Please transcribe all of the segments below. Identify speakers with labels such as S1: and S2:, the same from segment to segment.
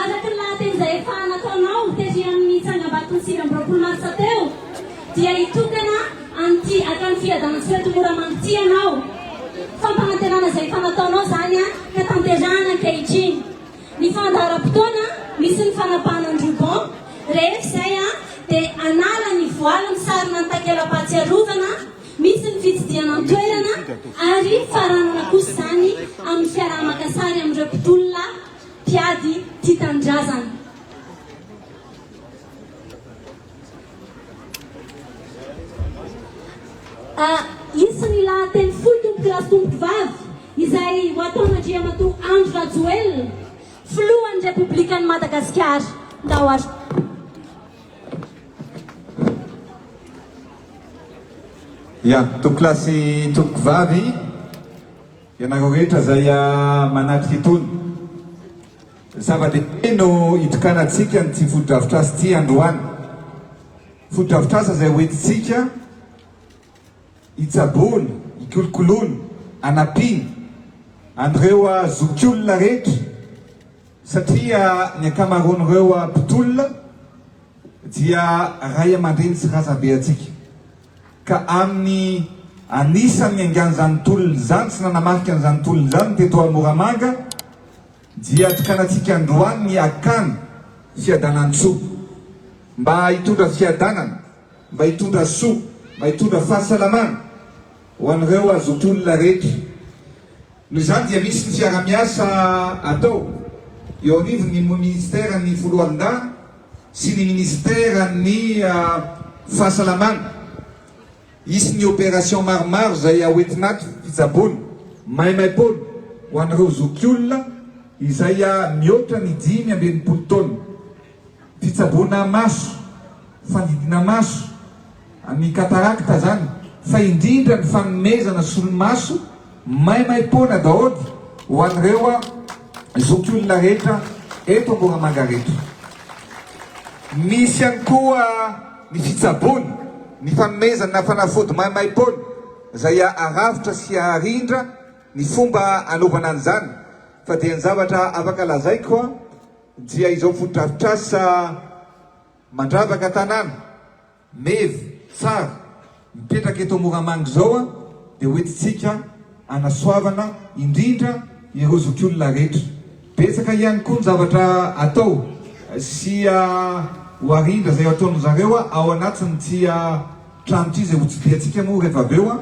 S1: Araka ny lahateny izay efa nataonao tery amin'ny tsangambaton'ny sivy amby roapolo marsa teo dia hitokana an'ity hatrany Fiadanantsoeto Moramanga ity ianao. Fampanantenana izay efa nataonao izany ka tanterahana ankehitriny. Ny fandaharam-potoana misy ny fanapahana ny ruban rehefa izay dia hanala ny voaly misarona ny takela-pahatsiarovana misy ny fitsidihana ny toerana ary faranana kosa izany amin'ny fiaraha-maka sary amin'ireo mpitolona mpiady tia tanindrazana. A Hisy ny lahateny fohy Tompoko lahy sy Tompoko vavy izay ho ataon'Andriamatoa Andry Rajoelina, Filohan'ny Repoblikan'i Madagasikara. Ndao ary. Ya, Tompoko
S2: lahy sy Tompoko vavy. Ianareo rehetra izay manatrika itony zava-dehibe no hitokanantsika an'ity fotodrafitrasa ity androany. Fotodrafitrasa izay hoentintsika hitsaboana, hikolokoloana, hanampiana an'ireo zokiolona rehetra satria ny ankamaroan'ireo mpitolona dia ray aman-dreny sy razambe antsika. ka amin'ny anisan'ny niangan'izany tolona izany sy nanamarika an'izany tolona izany teto Moramanga dia tokanantsika androany ny hakana fiadanantsoa mba hitondra fiadanana, mba hitondra soa, mba hitondra fahasalamana ho an'ireo azotolona rehetra. Noho izany dia misy ny fiarahamiasa atao eo anivon'ny Minisiteran'ny Foloalindahy sy ny Minisiteran'ny Fahasalamana. Hisy ny opération maromaro izay haoentinato fitsaboana maimaim-poana ho an'ireo zokiolona izay mihoatra ny dimy amby enimpolo taona. Fitsaboana maso, fandidiana maso, ny katarakta zany, fa indrindra ny fanomezana solomaso maimaimpoana daholo ho an'ireo zokiolona rehetra eto Moramanga reto. Misy ihany koa ny fitsaboana, ny fanomezana fanafody maimaimpoana izay aravotra sy arindra ny fomba anaovana an'izany, fa dia ny zavatra afaka lazaiko. Dia izao fotodrafitrasa mandravaka tanàna, mev, tsara, mipetraka eto Moramanga izao dia hoentintsika hanasoavana indrindra ireo zokiolona rehetra. Betsaka ihany koa ny zavatra atao sy ho arindra izay ataon-dry zareo ao anatin'ity trano ity izay hotsidihantsika moa rehefa avy eo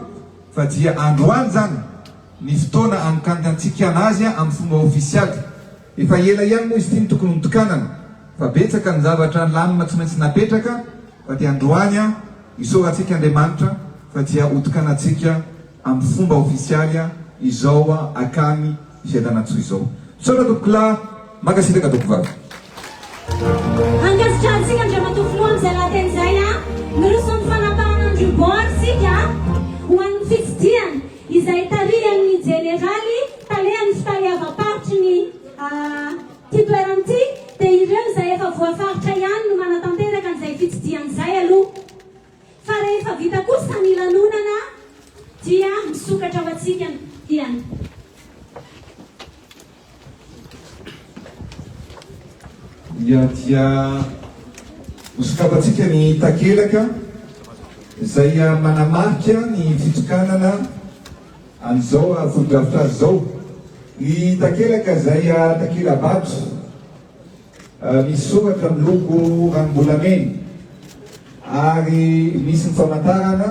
S2: fa dia androany izany ny fotoana anokantantsika an'azy amin'ny fomba ofisialy. Efa ela ihany moa izy ity no tokony notokanana fa betsaka ny zavatra lamina tsy maintsy napetraka fa dia androany an isaorantsika Andriamanitra fa dia hotokanantsika amin'ny fomba ofisialy izao akany Fiadanantsoa izao. Misaotra Tompokolahy, mankasitraka Tompkovavy. Ankasitrahantsika Andriamatoa Filoha amin'izay
S1: lahateny izay an! Miroso amin'ny fanapahana an'ireo bord isika ho an'ny fitsidihana. izay tarihan'ny Jeneraly talehan'ny fitaleavam-paritry ny ity toerana ity dia ireo izay efa voafaritra ihany no manatanteraka an'izay fitsidihana izay aloha fa rehefa vita kosa ny lanonana dia misokatra ho antsika ihany.
S2: Dia dia hosokafantsika ny takelaka izay manamarika ny fitokanana an'izao fotodrafitrasa izao. Ny takelaka izay takela-bato misy soratra miloko ranom-bolamena ary misy ny famantarana.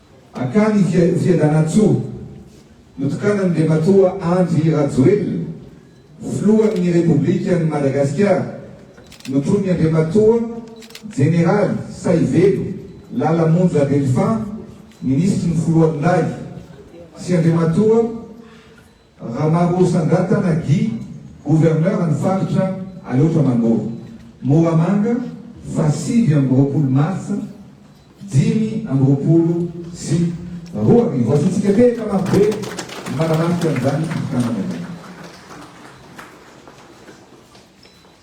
S2: Akany Fiadanantsoa, notokanan'Andriamatoa Andry Rajoelina, Filohan'ny Repoblikan'i Madagasikara, notronin'ny Andriamatoa Jeneraly Saivelo Lala Monja Delphin, Minisitry ny Foloalindahy, sy Andriamatoa. Ramarosandrantana Guy, gouverneur ny faritra Aleotra Manoro, Moramanga, faha sivy amby roapolo martsa dimy amby roapolo sy roa arivo. Azontsika tehaka marobe ny manamarika an'izany fifidianana izany.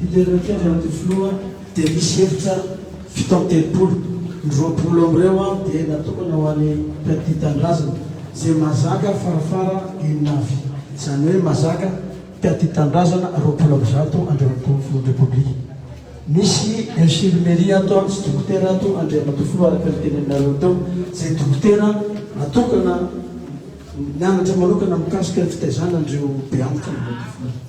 S3: Didera kely Rato Filoha dia misy efitra fito amby telopolo, ny roapolo amin'ireo dia natokana ho an'ny Mpiatia Tanindrazana izay mahazaka farafara enina avy, izany hoe mahazaka Mpiatia Tanindrazana roapolo amby zato Andriamatoa Filohan'ny Repoblika. Misy Infirmerie ato sy Dokotera ato Andriamatoa Filoha araka ny teny aminareo teo izay Dokotera natokana nianatra manokana mikasika ny fitaizana an'ireo beantika Andriamatoa Filoha.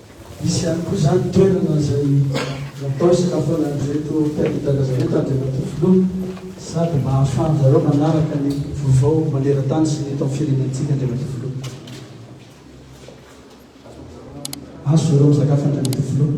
S3: Hisy ihany koa izany ny toerana izay natao hisakafoanany ireto mpiaritaka izay eto Andriamatoa Filoha sady mba hahafahan-dry zareo manaraka ny vaovao maneran-tany sy ny eto amin'ny firenentsika Andriamatoa Filoha. Azo zareo misakafo Andriamatoa Filoha.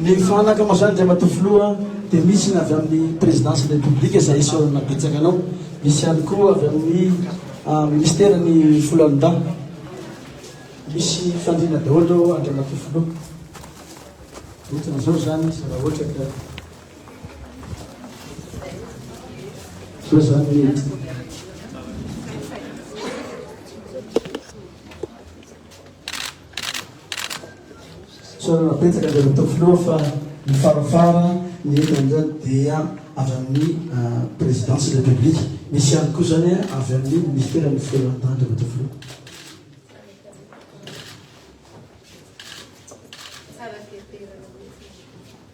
S3: Ny fanaka moa izany Andriamatoa Filoha dia misy ny avy amin'ny Présidence-n'ny République izay isaorana betsaka anao, misy ihany koa avy amin'ny Ministère-n'ny Foloalindahy. Misy fandriana daholo Andriamatoa Filoha. Ohatran'izao izany izy raha ohatra ka. Izao izany ny. Fisaorana betsaka dia matoa filoha fa ny farafara ny eto indray dia avy amin'ny présidence de la république. Misy ihany koa izany avy amin'ny ministère ny fitoeran-tany dia matoa filoha.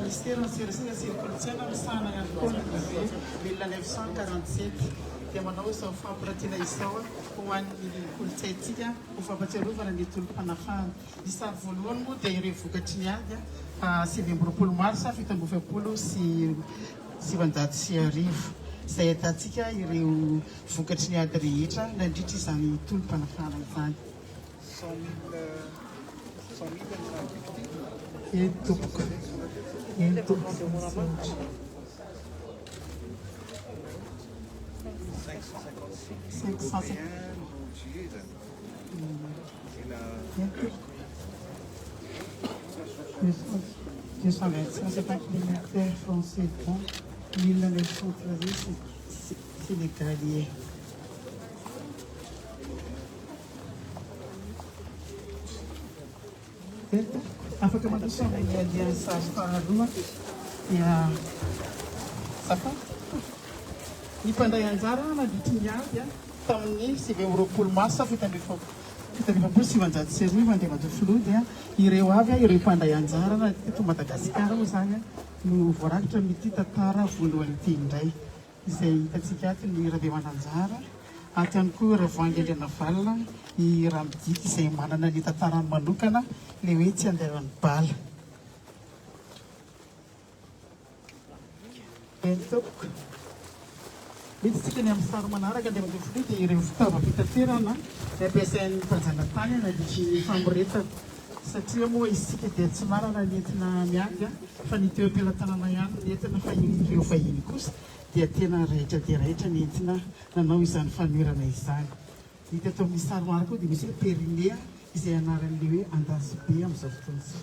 S4: Ministeran'ny Serasera sy ny Kolontsaina misahana ihany koa ny brevet mille neuf cent quarante sept dia manao izao fampirantiana izao ho an'ny kolontsaintsika ho fampatsiarovana ny tolom-panafahana. Ny sary voalohany moa dia ireo vokatry ny ady sivy amby roapolo marsa fito amby efapolo sy sivinjato sy arivo izay ahitantsika ireo vokatry ny ady rehetra nandritra izany tolom-panafahana izany. Eny tompoko, eny tompoko, misaotra. Cinq cent cinquante. Sénégaliais. Afaka mandroso amin'ny andiany sary faharoa dia safa ny mpandray anjara nandritry ny ady tamin'ny sivy amby roapolo marsa fito amby folo fito amby efapolo sy sivinjato sy arivo Andriamatoa Filoha dia ireo avy ireo mpandray anjara teto Madagasikara moa izany no voarakitra amin'ity tantara voalohany ity indray. izay hitantsika ato ny Rabemananjara, ato ihany koa Ravoahangy Andrianavalona, i Ramidiky izay manana ny tantarany manokana, ilay hoe tsy andalan'ny bala. Eny tompoko, miditsika ny amin'ny sary manaraka dia mandeha filoha dia ireo fitaovam-pitaterana nampiasain'ny mpanjanatany nandritry ny famoretana. Satria moa isika dia tsy manana ny entina miainga fa ny toeram-pelatanana ihany no entina fa iny ireo vahiny kosa dia tena raitra dia raitra ny entina nanao izany fanoherana izany. Hita eto amin'ny sary maro koa dia misy hoe Périnea izay anaran'ilay hoe andasibe amin'izao fotoana izao.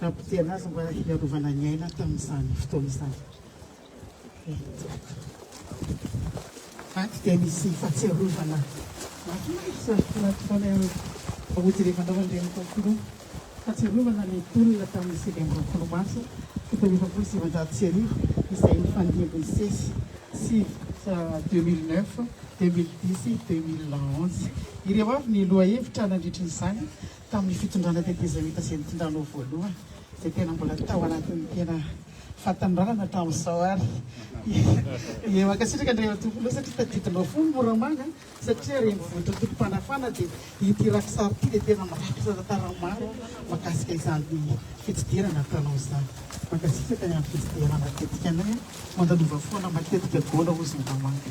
S4: Nampotehina azy mba hiarovana ny aina tamin'izany fotoana izany. Ato dia misy fahatsiarovana mahafinaritra hody rehefa nanao an'ireny concours. Fahatsiarovana ny tolona tamin'ny sivy amby roapolo marsa fito amby efapolo sy sivinjato sy arivo izay nifandimby ny sesy sivy deux mille neuf, deux mille dix, deux mille onze. Ireo avy ny lohahevitra nandritra izany. Tamin'ny fitondrana tetezamita izay nitondranao voalohany dia tena mbola tao anatin'ny tena fatin'ny lalana hatramin'izao ary dia mankasitraka Andrianatompolo satria tadidinao foana i Moramanga satria renivohitrao tompom-panafana dia ity rakitsary ity dia tena mirakitra tantara maro mahakasika izany fitsidihanana ataonao izany. Mankasitraka ny amin'ny fitsidihana matetika anay a! Mandanova foana matetika Gola hozy Moramanga.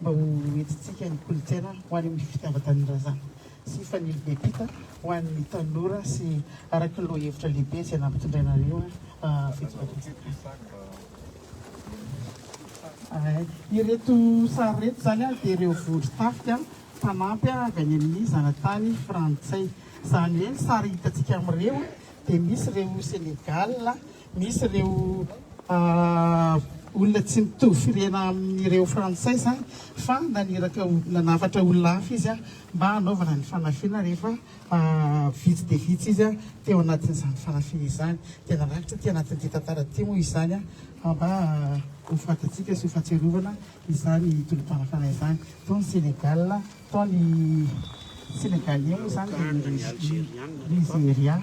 S4: mba ho entintsika ny kolontsaina ho any amin'ny fitiavan-tanindrazana sy fanilo be mpita ho an'ny tanora sy araka ny lohahevitra lehibe izay nampitondrainareo eto Madagasikara. Ireto sary ireto izany dia ireo vondron-tafika mpanampy avy any amin'ny zanatany frantsay. Izany hoe ny sary hitantsika amin'ireo dia misy ireo Sénégal, Misy ireo olona tsy mitovy firehana amin'ireo frantsay izany fa naniraka nanafatra olona hafa izy mba hanaovana ny fanafihana rehefa vitsy dia vitsy izy teo anatin'izany fanafihana izany dia narakitra aty anatin'ity tantara ity moa izany mba ho fantatsika sy ho fahatsiarovana izany tolom-panafana izany tao ny Senegal tao ny Senegalais moa izany dia ny Nigeria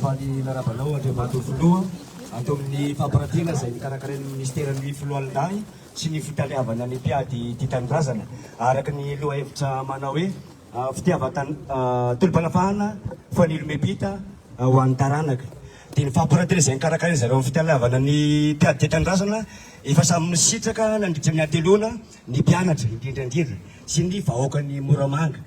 S5: Faly miarahaba anao Andriamatoa Filoha ato amin'ny fampirantiana izay nokarakarain'ny Minisiteran'ny Foloalindahy sy ny Fitaleavana ny Mpiady Tia Tanindrazana araka ny lohahevitra manao hoe Fitiavan-tany, Tolom-panafahana Fanilo-mepita ho an'ny taranaka. Dia ny fampirantiana izay nokarakarain'ny zareo amin'ny Fitaleavana ny Mpiady Tia Tanindrazana efa samy nisitraka nandritra ny hateloana ny mpianatra indrindra indrindra sy ny vahoakan'i Moramanga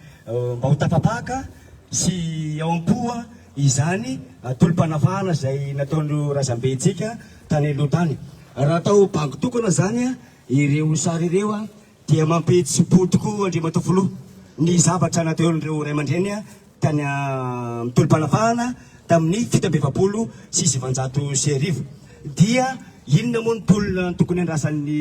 S5: mba ho tafapaka sy ao am-poa izany tolom-panavahana izay nataon'ireo razambentsika tany aloha tany. Raha atao bango tokana izany ireo sary ireo dia mampihetsi-po tokoa Andriamatoa Filoha ny zavatra nataon'ireo ray aman-dreny tany amin'ny tolom-panavahana tamin'ny fito amby efapolo sy sivinjato sy arivo. Dia inona moa ny tolona tokony handrasan'ny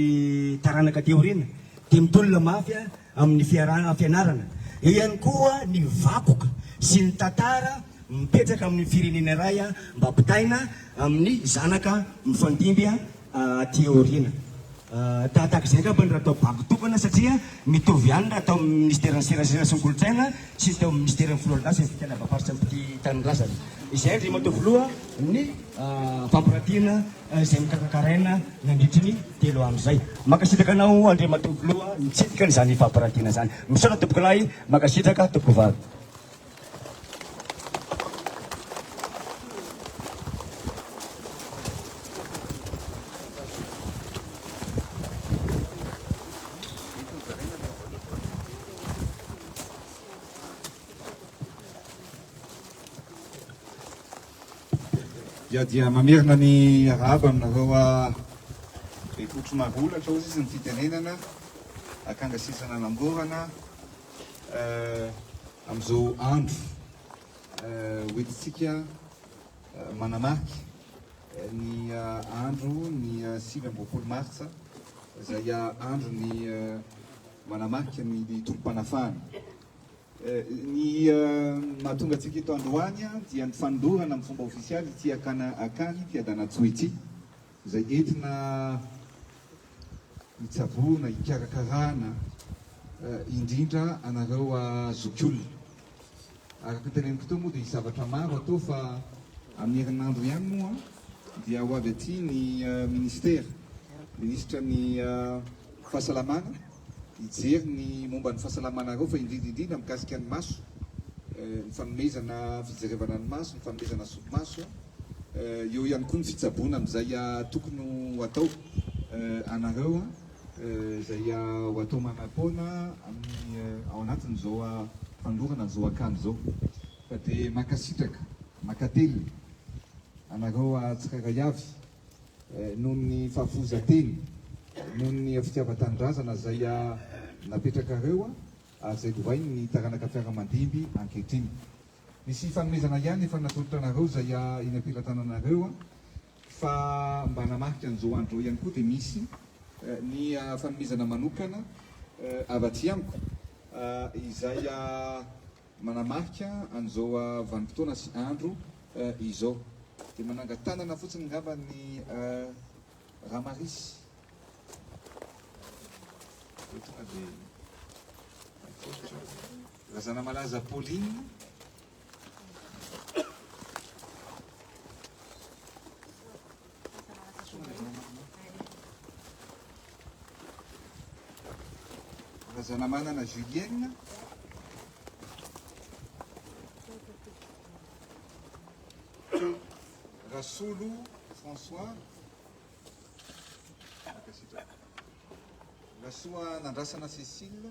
S5: taranaka aty aoriana? Dia mitolona mafy aho. amin'ny fiaraha-pianarana, eo ihany koa ny vakoka sy ny tantara mipetraka amin'ny firenena iray mba ampitaina amin'ny zanaka mifandimby aty aoriana. Tahaka izay angamba ny raha atao bago tokana satria mitovy ihany raha atao amin'ny Minisiteran'ny Serasera sy ny Kolontsaina sy ny teo amin'ny Minisiteran'ny Filohan'ny Dase sy ny Fikarabamparitry ny Tanindrazana. Izay Andriamatoa Filoha ny fampirantiana. izay nokarakaraina nandritry ny telo andro izay. Mankasitraka anao Andriamatoa Filoha nitsidika an'izany fampirantiana izany. Misaotra Tompokolahy, mankasitraka Tompokovavy.
S2: Dia dia mamerina ny arahaba aminareo Bekoto Marolatra hoy izy ny fitenenana akanga sisa nanamborana amin'izao andro ho entintsika manamarika ny andro ny sivy amby roapolo martsa izay andron'ny manamarika ny tolom-panafahana. Ny mahatonga antsika eto androany dia ny fanondorana amin'ny fomba ofisialy ity akana akany Fiadanantsoa ity, izay entina hitsaboana, hikarakarana indrindra anareo zokiolona. Araka ny teneniko teo moa dia hisy zavatra maro atao fa amin'ny herinandro ihany moa dia ho avy aty ny Ministera, Minisitra ny Fahasalamana, hijery ny momba ny fahasalamanareo fa indrindra indrindra mikasika ny maso, ny fanomezana fijerevana ny maso, ny fanomezana solomaso, eo ihany koa ny fitsaboana amin'izay tokony ho atao anareo, izay ho atao manam-poana amin'ny ao anatin'izao fanolorana an'izao akanjo izao. Ka dia mankasitraka, mankatelina anareo tsirairay avy. noho ny fahafohizan-teny, noho ny fitiavan-tanindrazana izay napetrakareo ary izay lovainy ny taranaka mpiara-mandimby ankehitriny. Misy fanomezana ihany efa natolotra anareo izay eny am-pelatananareo fa mba hanamarika an'izao andro izao ihany koa dia misy ny fanomezana manokana avy aty amiko izay Manamarika an'izao vanim-potoana sy andro izao. Dia manangan-tanana fotsiny ngamba ny Ramarisy. Dia tonga dia atolotra Razanamalaza Pauline. Razanamanana Julienne, Rasolo François, Rasoa Nandrasana Cécile,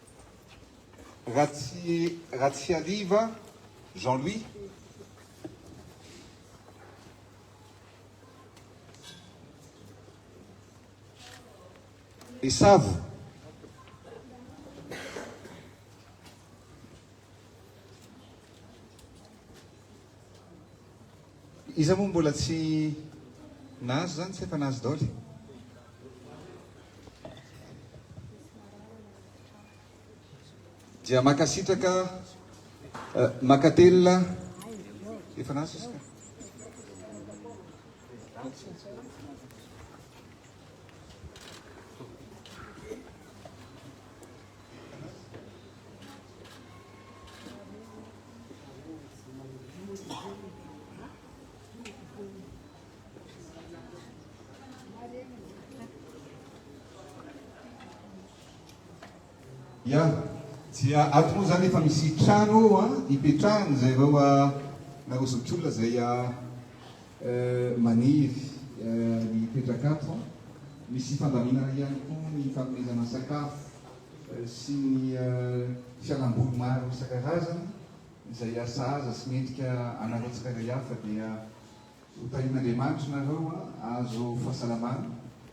S2: Ratsihariva Jean Louis, Besavo, Iza moa mbola tsy nahazo zany tsy efa nahazo daoly. Dia makasitraka makatelina efa nahazo izy ka. Ya, dia ato moa zany efa misy trano ipetrahana izay vao nareo zokiolona izay Maniry ny toetrakato. Misy fandaminana ihany koa ny fanomezana sakafo sy ny fialamboly maro isan-karazany izay hasahaza sy mendrika anareo tsirairay avy fa dia ho tahian'Andriamanitra nareo azo fahasalamana.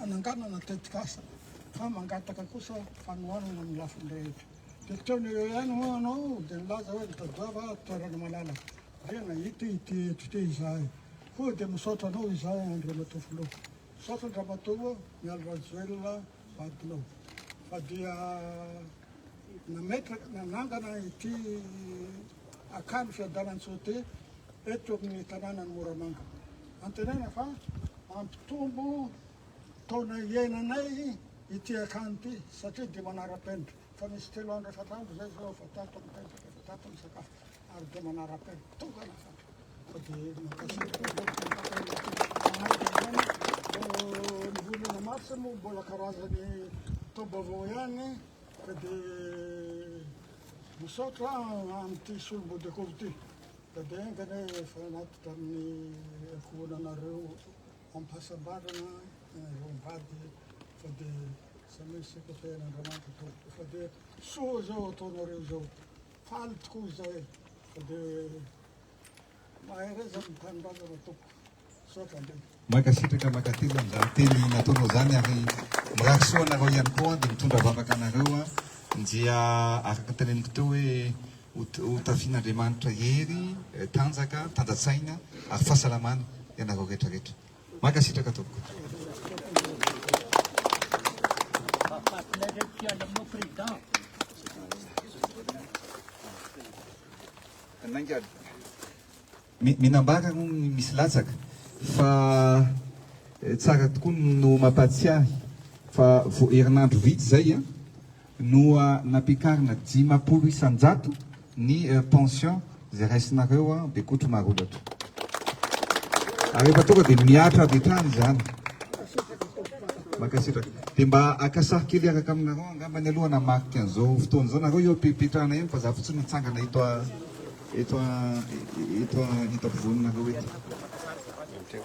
S6: hananganana tetikasa fa mangataka kosa fanohanana amin'ny lafiny rehetra. Dia teo ny eo ihany moa anao dia nilaza hoe nitadiava toerana malalaka. Dia nahita ity eto ity izahay. Koa dia misaotra anao izahay Andriamatoa Filoha. Misaotra an-dRamatoa Mialy Rajoelina. vadinao fa dia nametraka nanangana ity akany Fiadanantsote eto amin'ny tanànan'i Moramanga. Antenaina fa hampitombo taona iainanay ity akany ity satria dia manara-penitra fa misy telo andro efatra andro izay izao efa tato mipetraka efa tato misakafo. ary dia manaraka tokana fa dia nivonona mafy moa mbola karazany taom-baovao ihany ka dia misaotra amin'ity solombody akoho ity ka dia engana efa anatitra amin'ny ankohonanareo ampahasambarana ireo mivady fa dia samy sika tehan'Andriamanitra tompoko fa dia soa izao ataonareo izao Faly tokoa izahay fa dia mahay raiza ny tanindrazana
S2: tompoko. Misaotra indrindra. Mankasitraka makateza amin'izany teny nataonao izany ary mirary soa anareo ihany koa dia mitondra vavaka anareo an dia araka ny teneniko teo hoe ho tafian'Andriamanitra hery, tanjaka, tanjantsaina ary fahasalamana ianareo rehetra rehetra. Mankasitraka tompoko. Minambara moa ny misy latsaka fa tsara tokoa no mampatsiahy fa vao herinandro vitsy zay Noa nampiakarina dimapolo isan-jato ny pension izay raisinareo an dia kotro marolatra. Ary efa tonga dia mihatra avy hatrany izany. Mankasitraka. Dia mba haka sary kely hiaraka aminareo angambany aloha hanamarika an'izao fotoana izao. Nareo eo am-pepetrahana eo fa za fotsiny mitsangana eto eto eto an eto an eto am-povoaninareo eto.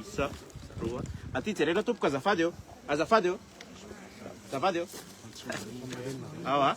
S7: Isa, roa. Aty jerena tompoko azafady ô. Azafady ô. Azafady ô. Ao a.